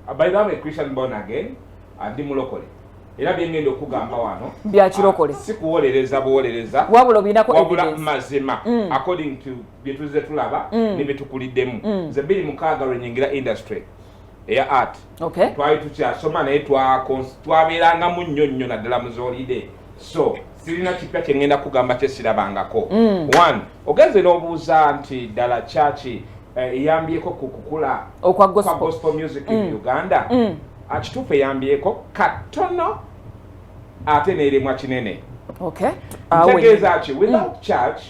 Ah, by the way christian born again andi ah, mulokole era byengenda okugamba wano byakirokole ah, sikuwolereza buwolereza wabula obinako wabula mazima mm. according to byetuze tulaba mm. nebyetukuliddemu mm. nze biri mukaaga lwenyingira industry eya art okay. twali tukyasoma naye twabeerangamu nnyo nnyo naddala muzolide so sirina kipya kyengenda kugamba kyesirabangako mm. one ogenze n'obuuza nti ddala kyaki eh, eyambyeko ku kukula okwa gospel music in mm. uganda mm. akituufu eyambyeko katono ate neeremwa kinene ntegeeza ki without church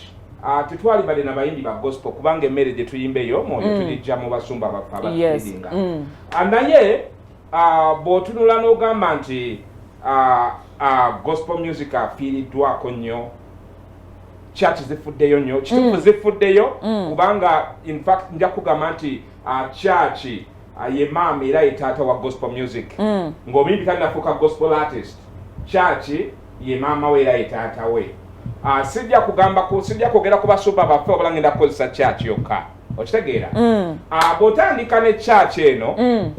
ah, tetwali bade na bayimbi ba gospel kubanga emmere gye tuyimba eyo omwoyo tulijja mu basumba baffe abatuidinga ah, naye Ah, bw'otunula n'ogamba nti ah, ah, gospel music afiiriddwako nnyo church zifuddeyo nnyo kitufu mm. zifuddeyo mm. kubanga infact nja kugamba nti church ye maama era ye taata wa gospel music mm. ng'omuyimbi tanafuuka gospel artist church ye maama we era ye taata we sijja kugamba sijja kwogera ku basuba baffe obulangenda kukozesa church yokka okitegeera mm. ah, bwotandika ne church eno mm.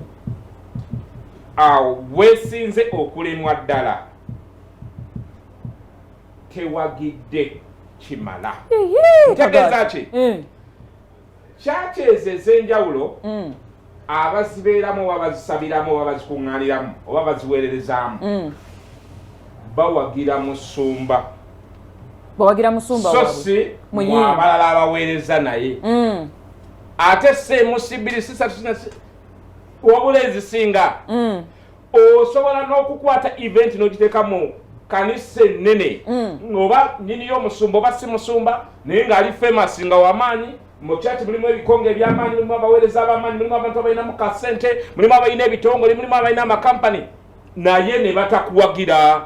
awo ah, wesinze okulemwa ddala tewagidde kimala ntegeeza ki mm. church ezo ezenjawulo abazibeeramu oba bazisabiramu oba bazikuŋŋaaniramu oba baziweererezaamu mm. bawagira musumba bawagira musumba so si mwabalala abaweereza naye mm. ate semusibiri sisatusinasi wabula ezisinga mm. osobola n'okukwata event n'ogiteeka mu kanisa ennene oba nyiniyo omusumba oba si musumba naye ng'ali famous nga wamaanyi mu church mulimu ebikonge ebyamaanyi mulimu abaweereza abamaanyi mulimu abantu abalina mu kasente mulimu abalina ebitongole mulimu abalina amakampani naye ne batakuwagira